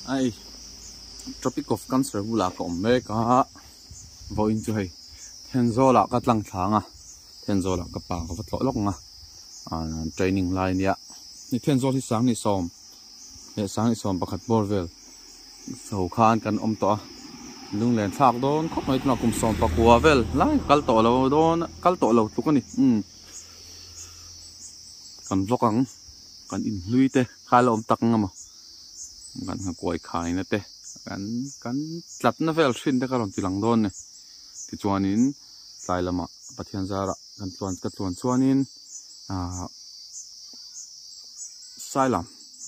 Ai, Tropic of Cancer bulah ka awm mek a, vawiin chu hei Thenzawlah ka tlang thla ang a, Thenzawlah ka pa ka va tlawh lawk ang a, training lai nia, hei Thenzawl hi sang ni sawm leh sang ni sawm pakhat bawr vel ho khan kan awm tawh a, lunglen thlak dawn khawp mai tunah kum sawm pakua vel lai ka kal tawh lo dawn a, kal tawh lo tluk a ni, kan vawk ang kan inhlui te. Kha la awm tak ngam a, kan hakuai khaina te kan kan tlatna vel hrin te ka rawn ti lang dawn e. Tichuanin tlai lama Pathian zara kan tluan ka tluan chuanin ah Sailam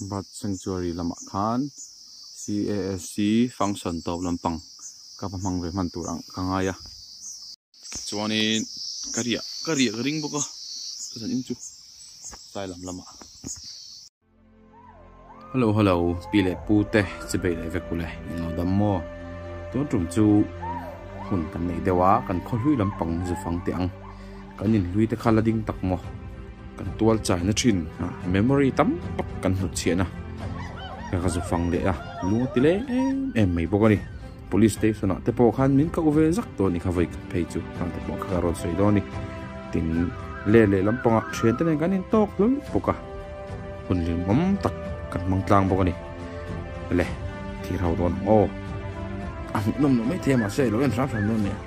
Bird Sanctuary lama khan CASC function tawp lampang ka va hmang ve hman tur ang ka ngai a. chuanin ka riah ka riah ka ring bawk a khazan in chu tlai lam lamah hello hello pi leh pu te che bei leh vek ule in lo dam maw tun tum chu hun kan nei deuh a kan khaw hlui lampang zu fang te ang kan in hlui te kha la ding tak maw kan tual chai na thin ha memory tam tak kan hmu chhiah na ka ka zu fang leh a lu ti le em em mai bawk a ni Police station ah te pawh khan min koh ve zak tawh a ni kha vawi khat phei chu hang te pawh kha ka rawn sawi dawn a ni tin le leh lampang ah thian te nen kan in tawk hlul bawk a hun lim awm tak kan hmang tlang bawk a ni le thir ho dawn ang aw a hmuh nawm lo mai thei a mahse a lo en hram hram dawn nia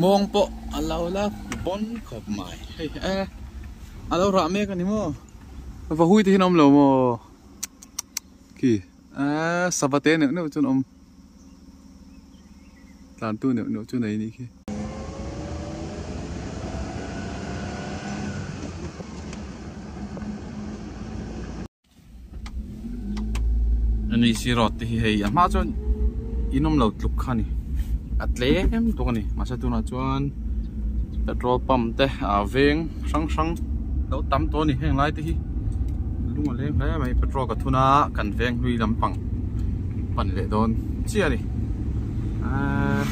mawng pawh a lo la bon khawp mai hei e a lo rah mek a ni maw vahuite hi an awm lo maw khi. Aa sava te neuh neuh chun awm. Tlan tu neuh neuh chu nei ni khi. NEC road te hi hei a hma chuan inom lo tluk kha ni a tlem tuk a ni mahse tunah chuan petrol pump te a veng hrang hrang lo tam tawh a ni heng lai te hi lung a leng hle mai petrol ka thun a kan veng hlui lampang pan leh dawn chiah a ni aaa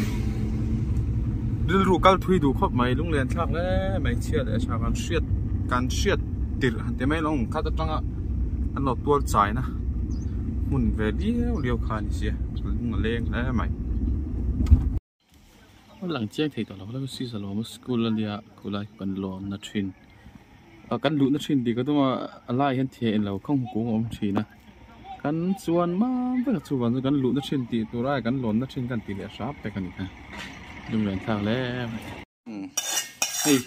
rilru kal thui duh khawp mai lung lian thlak hle mai chhia leh a chhak kan hriat kan hriat tirh han ti mai lo ang khat atanga an lo tual chai na hmun ve viau viau kha a ni sia lung a leng hle mai. lang chiang thei tawh lo hlauh a sisa lawma school a nia khulai kan lawmna thin a kan luhna thin tih ka duma a lai hian thian in lo khawng hmu kung a awm thin a kan chuan mam vek a chuvang chu kan luhna thin tih tura kan lawmna thin kan tih leh hrap vek a ni a dum len thlak hle mai. Hei,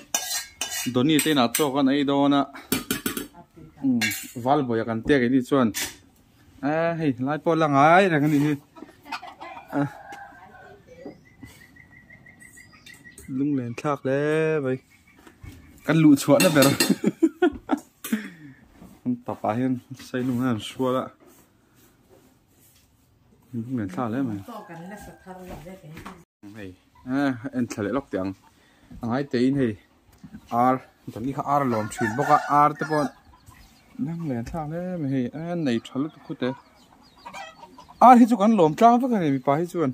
Donny te inah chawk an ei dawn a. Hmm, Valboya kan tek i ni chuan. A, hei, lai pawh la ngai reng a ni hi. A. Lunglen thlak le vai. Kan luh chhuahna ber. Kan papa hian sailung hian sual a. Ngen thla hle mai. Tawk kan la sa thar lawk zet e. Hei, eh, en thla leh lawk teh ang. A ngai tein hei, ar, danghi kha ar a lawm thin bawk a, ar te pawh nang leh thla hle mai hei, eh, nei tha lutuk khute. Ar hi chu kan lawm tlang vek a ni, mipa hi chuan.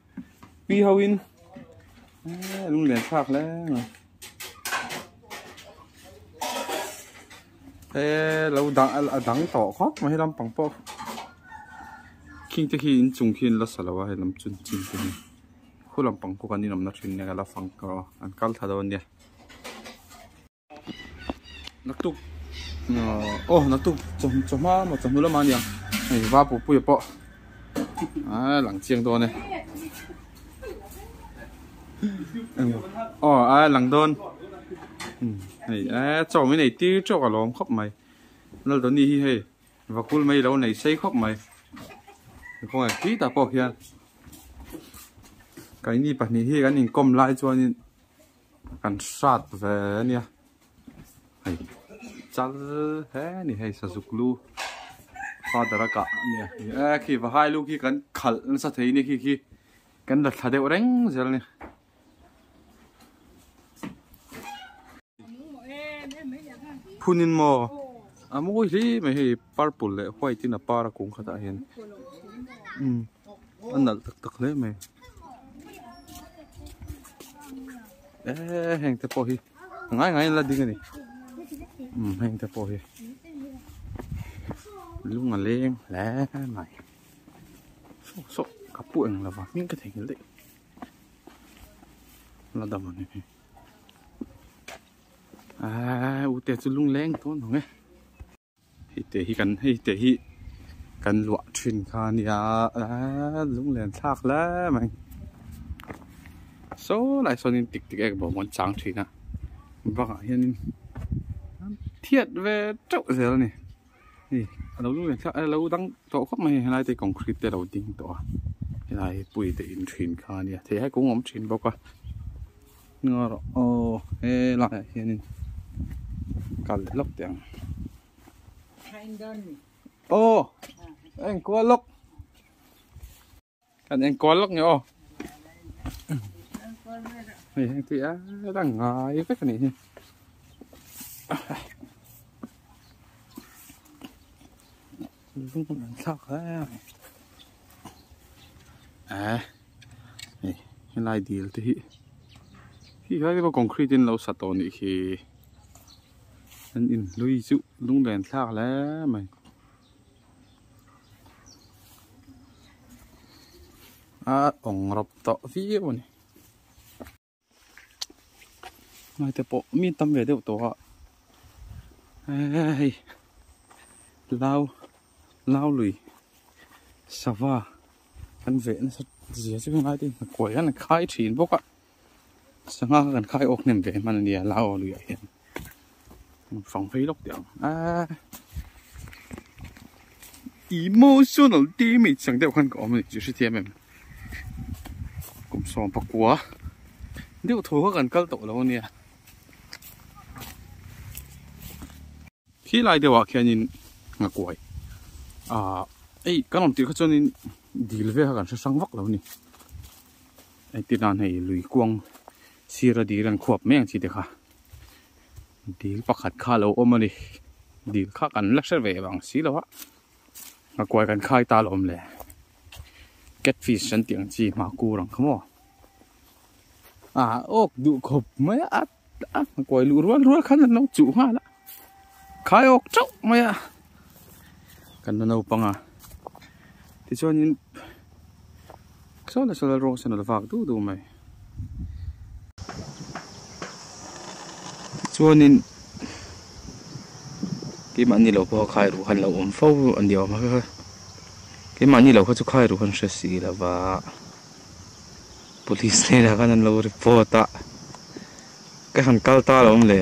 Pi ho in a lung lian phak hle ngai e lo dang a dang to kho ma hi lam pang po king te khi in chung khi in la salo a lam chun chin te ni khu lam pang ko kan in om na thin ne ka la fang ko an kal tha do nia naktuk oh naktuk chawhma maw chawhnu lama nia hei va pupuia pawh a lang chiang dawn e oh a lang dawn hmm, hei a chaw mai nei tir teuh a lawm khawp mai lal dawn ni hi hei vakul mai lo nei sei khawp mai khaw ngai khi ta pawh hian kaini pahnih hi kan inkawm lai chuanin Kan hrat ve nia hei chal he ni hei sazuklu father a kah nia e khi va hai lu khi kan khal nasa thei ni khi khi kan la thla deuh reng zel ni phunin mo a mawi hle mai hei purple leh white in a par a kung khatah hian um a nalh tak tak hle mai eee heng te pawh hi a ngai ngaiin a la ding a ni umm heng te pawh hi lung a leng hle mai sawk sawk ka pu eng lova hming ka thei nghal daih la dam a ni hi eee ute chu lung leng dawn ang e Hei te hi kan hei te hi kan luah thin kha nia a lunglen thlak hle mai so lai so nin tik tik ek bawm kan chang thin a bangah hian thiat ve teuh zel a ni ni a lo lunglen thlak a lo dang tawh khawp mai helai te concrete te lo ding tawh a helai pui te in thin kha nia thei hai kung awm thin bawk a. Aw he laiah hianin kal leh lawk teh ang. Aw a en kual lawk. Kan en kual lawk nge aw. Hei heng tui a la ngai vek a nih hi. Lungput an thlak hle a ni. Eh, hei helai dil te hi. Hi helai te pawh concrete in lo sa tawh nih khi. An in hlui chu lunglen thlak hle mai. A ong rap tawh viau a ni. mai te pawh min tam ve deuh tawh a hei lau lau lui sava kan ve nasa zia chu ngai te kuaih hian a khai thin bawk a sangha kha kan khai awk hnem ve hman a nia lau lui ah hian fang phei lawk teh ang a emotional damage ang deuh khan ka awm a ni tih hrethiam em kum sawm pakua deuh tho kha kan kal tawh lo ania khi lai deuhah khianin nga kuai a ei kan awm tir kha chuanin dil ve kha kan hre sang vak lo ni ai ti dan hei lui kuang sira dil an khuap mai ang chi te kha dil pakhat kha lo awm a ni dil kha kan la hre ve ang si lo a hakuai kan khai ta alawm le cat fish an tih ang chi mahkur ang kha maw a awk duh khawp mai a a hakuai luh rual rual khan an lo chuh nghal a. khai awk chauh mai a kan na naupang a tichuanin solar solar rawng sen a lo vak duh duh mai chuanin keimahni lo pawh khai ruh han lo awm fo a ni awm e keimahni lo kha chu khai ruh han hre si lo va police hnenah khan an lo report a ka han kal ta lo awm le.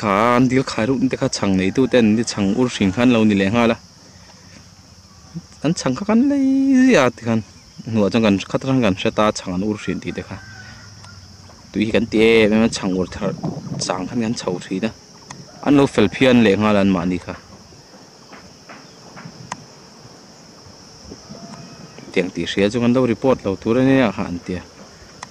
Kha an dil khai ruk te kha chhang nei tu ten ni chhang ur hring khan lo ni leh nghal a an chhang kha kan lei zia ti khan hnuah chuan kan khat ran kan hre ta chhang an ur hrin tih te kha tui hi kan ti em em a chhang ur thar chang khan kan chho thin a an lo fel phian leh nghal an mah ni kha tiang tih hria chu kan lo report lo tur ania kha an tia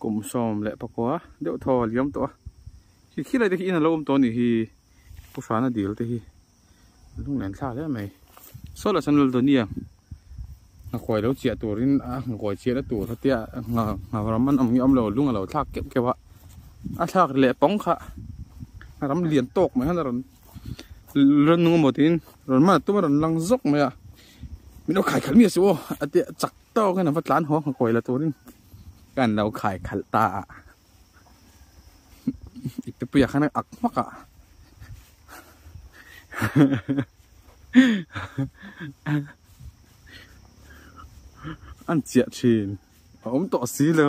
kum sawm leh pakua deuh thaw a liam tawh a khi khi laite khi in alo awm tawh a nih hi pu hrana dil te hi a hnung len thla hle mai saw lah sawn laldawinia ngakhuai lo chiah turin a ngakhuai chiah na tur hian a ngha ngha ram an awm hi awmlo lung alo thlak keuh keuh a a thlak leh pawng kha a ram lian tawk mai hian a rawn rannung amaw tiin rawn man a tum a rawn lang zawk mai a min awkhai khalh miah suh aw a teh a chak-- Tawng in a va tlan huang hawk la turin kan lo khai khalh ta a. I pepuia khan a ak hmak a. An chiah thin. A awm tawh si lo.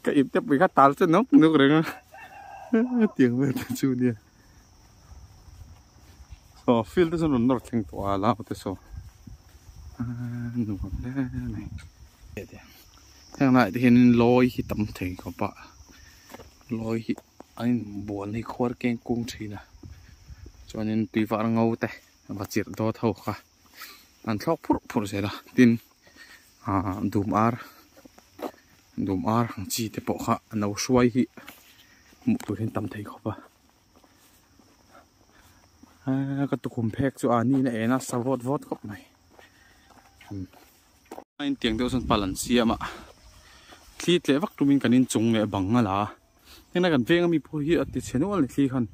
Ka i pepuia kha tal che nawk nawk reng a. Tiang vel ta chu nia. Aw field te chu rawn nawr thleng tawh a lam pawh te saw aaa nuam hle mai e tih heng lai te hianin lawi hi tam thei ka pah lawi hi an in buan hi khuar keng kung thin a chuanin tui var ngo te va chirh dawt ho kha. an thlawk phurh phurh zel a tin ah dum ar dum ar ang chi te pawh kha a no hruai hi hmuh tur hi an tam thei khawp a ah ka tukhum phek chu ah ni in a en a sa vawt vawt khawp mai a intiang deuh chuan pal an siam a thlit leh vak tum in kan inchung leh bang a la a. Heng kan veng ami pawh hi ati chhe nual ni thli khan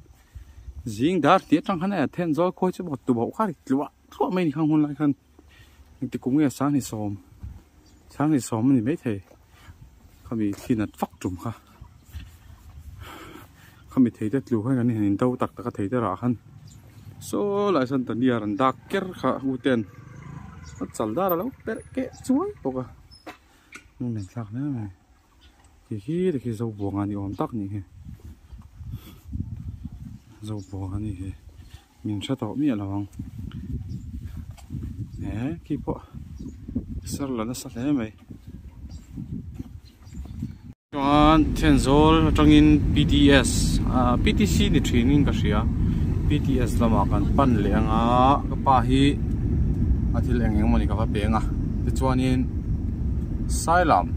zing dar ti atang khan a then zol khawi chu bawt tu bauh kha ri tlua tlua mai ni khan hun lai khan ti kum nge sang ni som sang ni som ni mai thei khami khi nat fak tum kha khami thei te tlu khan kan hin do tak tak a thei te ra khan so lai san ta nia ran dak ker kha u ten chal dar lo per ke chuai poka nun nen thlak hle mai Kei khi te khi zo buanga ni awm tak ni hi. Zo buanga ni hi. Min hre tawh miah lo ang. E khi pawh ser la nasa hle mai. Chuan Thianzawl atangin PTS, PTC ni thinin ka hria. PTS lama kan pan leh anga ka pa hi a thil eng eng mawni ka va peng a. Tichuanin Sailam.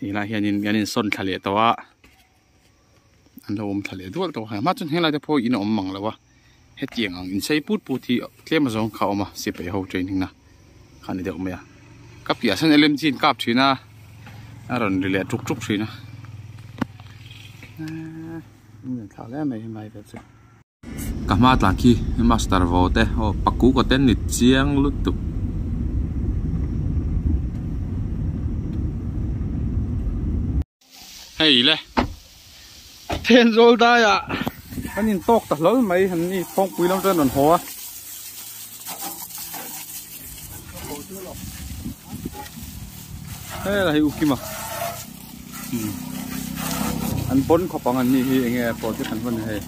helai hianin an insawn thla leh tawh a an lo awm thla leh dual tawh a mahmah chuan helai te pawh in a awm mang loh a hetiang ang insei put put hi tlem azawng kha a awm a sipai ho training na kha a ni deuh mai a ka piahah sawn lmg in kap thin a a rawn ri leh tuk tuk thin a. Ka hma tlang khi master vaw te aw paku ka ten ni chiang lutuk. Hei le. Then zol dai a. Kan in talk ta hlol mai an ni phawngpui lam chuan an haw a. Hei la hi u kima An pon khawp ang an ni hi enge pawh te kan hman hei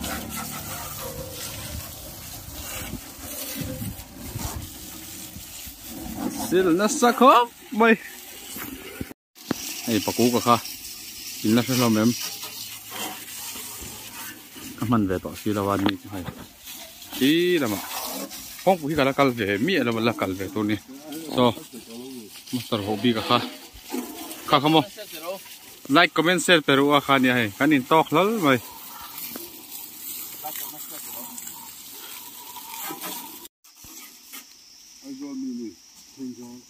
Sil nasa khawp mai Hei paku ka kha in la hre hlawm em ka hman ve tawh si lo a ni chu hei hi lama kawngpui hi ka la kal ve miah lo la kal ve tur ni so master ho bik a kha kha kha maw like comment share peru a kha nia hei kan in talk hlal mai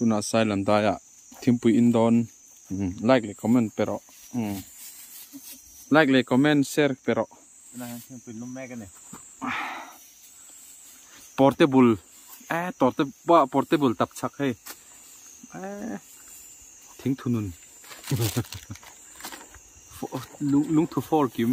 tuna sai lan dai a thingpui in don hmm, like le comment pe ro hmm. like le comment share pe ro na han thingpui num mek ani portable a eh, torte ba portable tap chak hei a eh, thing thunun lung lung thu fall kim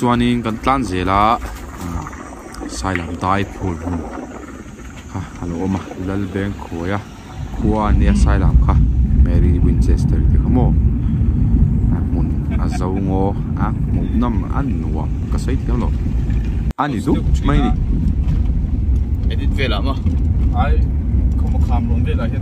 chuanin kan tlan zel a ah sailam dai phur hmun kha a lo awm a lalbeng khawiha khua a nia sailam kha mary winchester te kha maw a hmun a zo ngaw a hmuh nawm a nuam ka sawi thiam lo a ni dup mai a ni.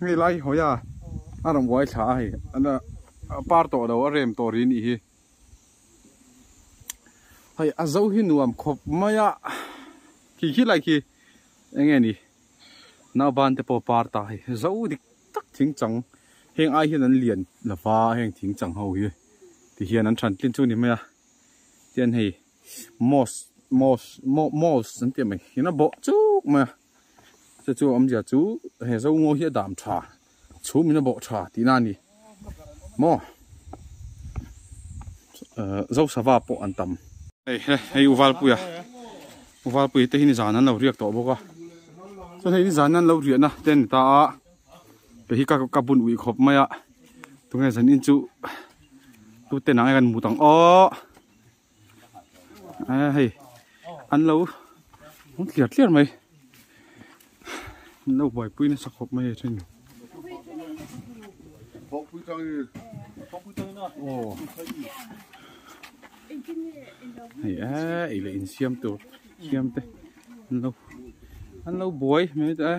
Hei lai hi hawia a rawn uai thla a hei a par tawh lo a rem tawh ri nih hi. Hei a zo hi nuam khawp mai a khi khi lai khi eng nge ni nau ban te pawh par ta hei zo dik tak thing chang heng ai hian an lian lova heng thing chang ho hi ti hian an than tlin chu ni mai a tian hei moss moss moss an tih mai ina bawh chuk mai a Te chu awm zia chu he zongaw hi a dam tha. Chhum in a bawh tha tihna a ni. Maw? Uh, Zosava pawh an tam. Hei, hei, hei Uvalpui a. Uvalpui te hi ni zan an lo riak tawh bawk a. Chuan hei ni zan an lo riah na te ni ta a. Pe hi ka ka bun ui khawp mai a. Tunge zan in chu tu te nang e kan mu tang aw. hei an lo rawng tliar tliar mai an lo buaipui nasa khawp mai a then hei a ei leh in siam tur siam te an lo an lo buai mai ta a.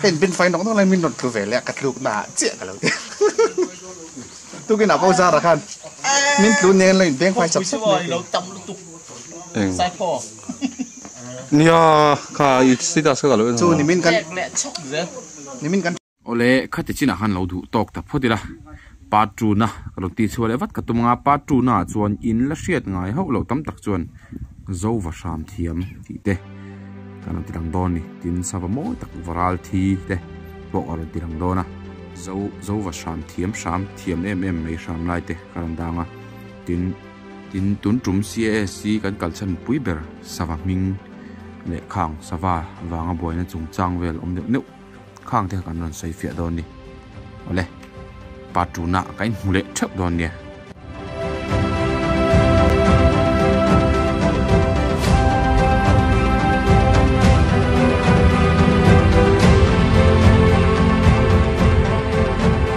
Ka inpin fai nawk nawk lai min rawn thu ve leh a ka tluk na ah chiah ka lo ti a tukin a poza ra khan min tlu nen lo in beng fai chap chap mai lo tam lutuk eng saipho nia kha i status ka lo en chu ni min kan chhak zel ni min kan Awle, khati chinah khan lo duh tawk ta phawt ila, Patruna ka rawn ti chhuah leh vat ka tum anga Patruna chuan in la hriat ngai hauh loh tam tak chuan zo va hram thiam tih te kan rawn ti lang dawn ni. Tin, sava mawi tak va ral thi te pawh a rawn ti lang dawn a. Zo, zo va hram thiam hram, thiam em em mai hram lai te ka rawn dang a. Tin. Tin, tun tum CASC kan kal chhan pui ber sava hming leh khang sava vanga buaina chungchang vel awm deuh neuh. khang te kha kan rawn sawi fiah dawn ni awle part two na ka in hmu leh theuh dawn nia.